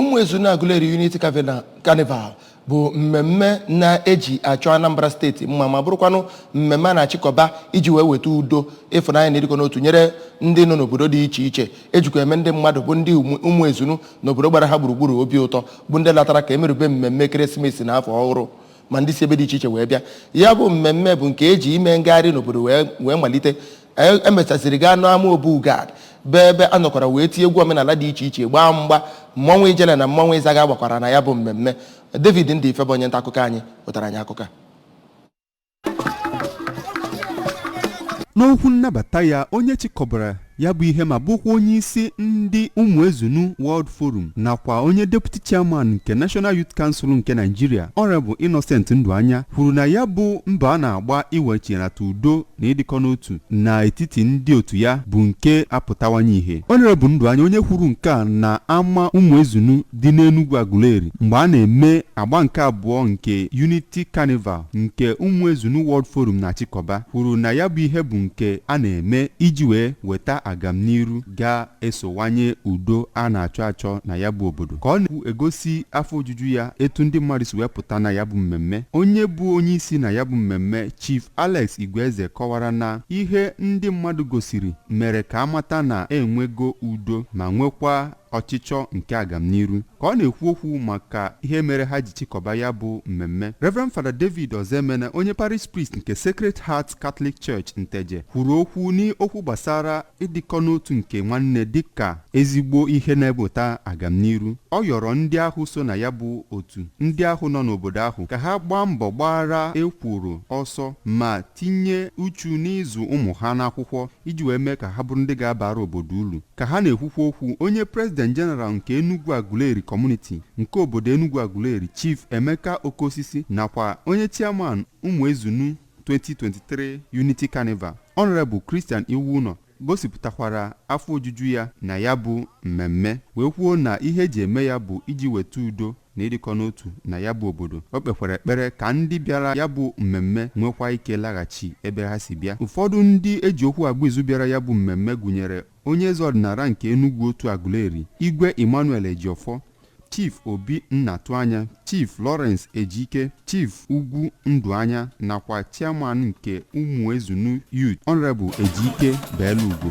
Ụmụezunu Aguleri unity carnival bụ mmemme na-eji achọ anambra steeti mma ma bụrụkwanụ mmemme a na-achịkọba iji wee weta udo ịfụnanya na ịdịkọ n'otu nyere ndị nọ n'obodo dị iche iche ejikwa eme ndị mmadụ bụ ndị Ụmụezunu n'obodo gbara ha gburugburu obi ụtọ bụ ndị latara ka emerube mmemme ekeresimesi na afọ ọhụrụ ma ndị si ebe dị iche iche wee bịa ya bụ mmemme bụ nke eji ime ngagharị n'obodo wee malite emechasịrị gaa n'ama obu gad bụ ebe a nọkwara wee tie egwu omenala dị iche iche gbaa mgba mmọnwụ ijele na mmọnwụ ịzaga gbakwara na ya bụ mmemme David Ndife bụ onye nta akụkọ anyị wetara anyị akụkọ n'okwu nnabata ya onye chịkọbara ya bụ ihe ma bụkwa onye isi ndị ụmụezunu world forum nakwa onye deputy chairman nke national youth council nke nigeria honorable innocent ndụanya kwuru na ya bụ mbọ a na-agba iwechinata udo na ịdịkọ n'otu na etiti ndị otu ya bụ nke apụtawanye ihe. Honorable Nduanya onye kwuru nke a na ama Ụmụezunu dị n'Enugwu Aguleri mgbe a na-eme agba nke abụọ nke Unity Carnival nke Ụmụezunu World Forum na-achịkọba kwuru na ya bụ ihe bụ nke a na-eme iji wee weta agamniru ga esowanye udo a na-achọ achọ na ya bụ obodo ka ọ na-ekwu egosi afọ ojuju ya etu ndị mmadụ si wee pụta na ya bụ mmemme onye bụ onye isi na ya bụ mmemme Chief Alex Igweze kọwara na ihe ndị mmadụ gosiri mere ka amata na enwego udo ma nwekwa ọchịchọ nke agamniru ka ọ na-ekwu okwu maka ihe mere ha ji chịkọba ya bụ mmemme Reverend Father David Ozoemena onye parish priest nke Sacred Heart Catholic Church Nteje kwuru okwu n'okwu gbasara ịdịkọ n'otu nke nwanne dị ka ezigbo ihe na-ebuta agamniru. Ọ yọrọ ndị ahụ so na ya bụ otu, ndị ahụ nọ n'obodo ahụ, ka ha gbaa mbọ gbaara ekworo ọsọ ma tinye uchu n'ịzụ ụmụ ha n'akwụkwọ iji wee mee ka ha bụrụ ndị ga-abara obodo uru. Ka ha na-ekwukwa okwu, onye President General nke Enugwu Aguleri Community nke obodo Enugwu Aguleri, Chief Emeka Okosisi nakwa onye Chairman Ụmụezunu 2023 Unity Carnival, Honorable Christian Iwuụnọ gosipụtakwara afọ ojuju ya na ya bụ mmemme wee kwuo na ihe eji eme ya bụ iji weta udo na ịdịkọ n'otu na ya bụ obodo o kpekwara ekpere ka ndị bịara ya bụ mmemme nwekwa ike laghachi ebe ha si bịa ụfọdụ ndị eji okwu agba izu bịara ya bụ mmemme gụnyere Onye eze ọdịnala nke Enugwu otu Aguleri, Igwe Emmanuel Ejiofor, Chief Obi Nnatuanya, Chief Lawrence Ejike, Chief Ugwu Ndụanya nakwa Chairman nke Ụmụezunu Youth, Honourable Ejike Beelugo.